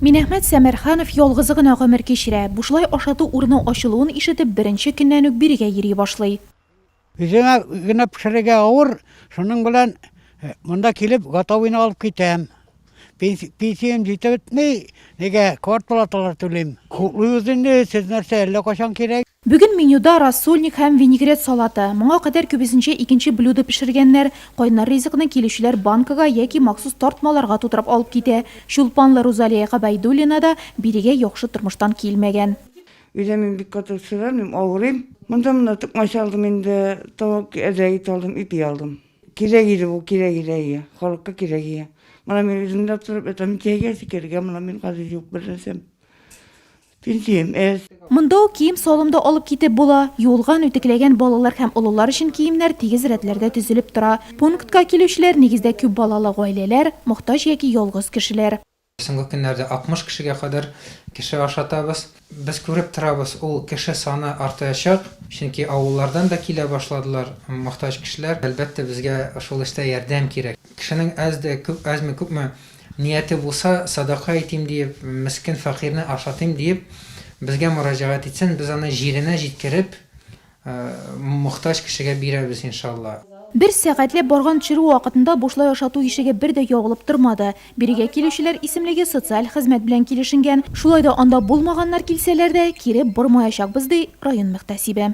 Минәхмәт Сәмәрханов ялгызы гына гомер кичерә. Бушлай ашату урыны ачылуын ишетеп, беренче көннән үк бирегә йөри башлый. Үземә генә пешерергә авыр, шуның белән монда килеп готовыйны алып китәм. Пенсиям җитеп бетми, нигә квартплаталар түлим. Хуплыйбыз инде, сез нәрсә, әллә кайчан кирәк. Бүген менюда рассольник һәм винегрет салаты. Моңа кадәр күбесенчә икенче блюдо пешергәннәр. Кайнар ризыкны килүчеләр банкага яки махсус тартмаларга тутырып алып китә. Чулпанлы Рузалия Гобәйдуллина да бирегә яхшы тормыштан килмәгән. Өйдә мин бик каты шыгырмыйм, авырыйм. Монда менә токмач алдым инде, тавык әзрәк ите алдым, ипи алдым. Кирәк иде бу, кирәк иде, әйе. Халыкка кирәк иде. Менә мин үзем дә торып ятам, чәйгә, шикәргә, менә мин хәзер юк бернәрсәм. Монда ук кием-салым да алып китеп була. Юылган, үтекләгән балалар һәм олылар өчен киемнәр тигез рәтләрдә тезелеп тора. Пунктка килүчеләр, нигездә, күп балалы гаиләләр, мохтаҗ яки ялгыз кешеләр. Соңгы көннәрдә 60 кешегә кадәр кеше ашатабыз. Без күреп торабыз, ул кеше саны артаячак, чөнки авыллардан да килә башладылар мохтаҗ кешеләр. Әлбәттә, безгә шул эштә ярдәм кирәк. Кешенең әз дә, әзме-күпме Нияте булса, садака итим диеп, мескен фәкыйрьне ашатыйм диеп, безгә мөрәҗәгать итсен, без аны җиренә җиткереп, мохтаҗ кешегә бирәбез, иншалла. Бер сәгатьләп барган чирү вакытында бушлай ашату ишеге бер дә ябылып тормады. Бирегә килүчеләр исемлеге социаль хезмәт белән килешенгән, шулай да анда булмаганнар килсәләр дә, кире бормаячакбыз, ди район мөхтәсибе.